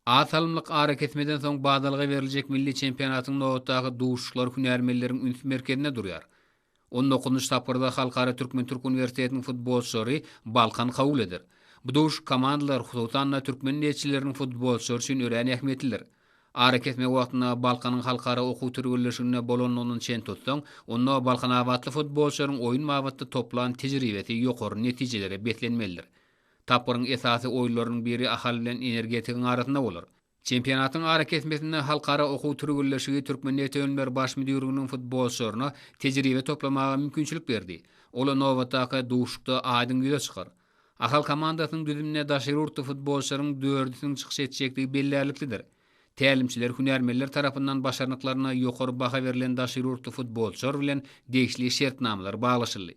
Az salymlyk arakesmeden soň badalga beriljek milli çempionatyň nobatdaky duşuşyklary hünärmenleriň üns merkezinde durýar. On dokuzynjy tapgyrda Halkara türkmen-türk uniwersitetiniň futbolçylary Balkan kabul eder. Bu duşuşyk komandalar, hususan-da, türkmen neşirleriniň futbolçylary üçin örän ähmiýetlidir. Arakesme wagtyna Balkanyň halkara okuw türgenleşiginde bolandygyny çen tutsaň, onda balkanabatly futbolçylaryň oýun babatda toplan tejribesi ýokary netijelere beslenmelidir. Tapgyryň esasy oýunlarynyň biri Ahal bilen Energetigiň arasynda bolar. Çempionatyň arakesmesinde Halkara okuw türgenleşigi Türkmenneftönümler baş müdirliginiň futbolçylaryna tejribe toplamaga mümkinçilik berdi. Ol nobatdaky duşuşykda aýdyň ýüze çykar. Ahal komandasynyň düzüminde daşary ýurtly futbolçylaryň dördüsiniň çykyş etjekdigi bellärliklidir. Tälimçiler hünärmenler tarapyndan başarnyklaryna ýokary baha berlen daşary ýurtly futbolçylar bilen degişli şertnamalar baglaşyldy.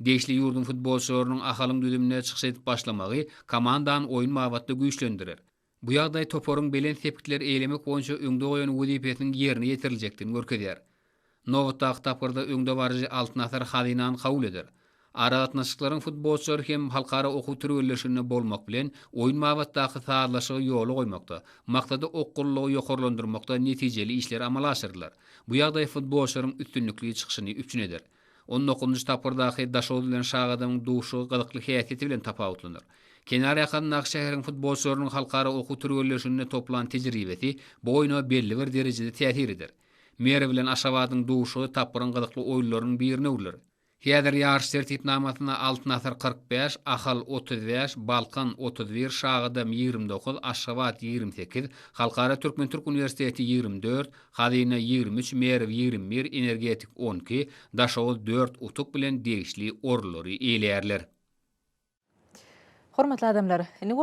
Degişli ýurduň futbolçylarynyň Ahalyň düzüminde çykyş edip başlamagy komandany oýun babatda güýçlendirer. Bu ýagdaý toparyň belent sepgitleri eýlemek boýunça öňde goýan wezipesiniň ýerine ýetiriljekdigini görkezýär. Nobatdaky tapgyrda öňdebaryjy Altyn Asar Hazynany kabul eder. Aragatnaşyklaryň futbolçylary hem halkara okuw türgenleşiginde bolmak bilen, oýun babatdaky sazlaşygy ýola goýmakda, maksada okgunlylygy ýokarlandyrmakda netijeli işler amala aşyrylar. Bu ýagdaý futbolçylaryň üstünlikli çykyşyny üpjün eder. On dokuzynjy tapgyrdaky Daşoguz bilen Şagadamyň duşuşygy gyzykly häsiýeti bilen tapawutlanar. Kenar ýakasyndaky şäheriň futbolçylarynyň halkara okuw türgenleşiginde toplan tejribesi bu oýna belli bir derejede täsir eder. Mary bilen Aşgabadyň duşuşygy tapgyryň gyzykly oýunlarynyň birine öwrüler. Häzir ýaryş tertipnamasynda Altyn asyr kyrk bäş, Ahal otuz bäş, Balkan otuz bir, Şagadam ýigrimi dokuz, Aşgabat ýigrimi sekiz, Halkara türkmen-türk uniwersiteti ýigrimi dört, Hazyna ýigrimi üç, Merw ýigrimi bir, Energetik on iki, Daşoguz dört utuk bilen degişli orunlary eýeleýärler. Hormatly adamlar! Indi bolsa.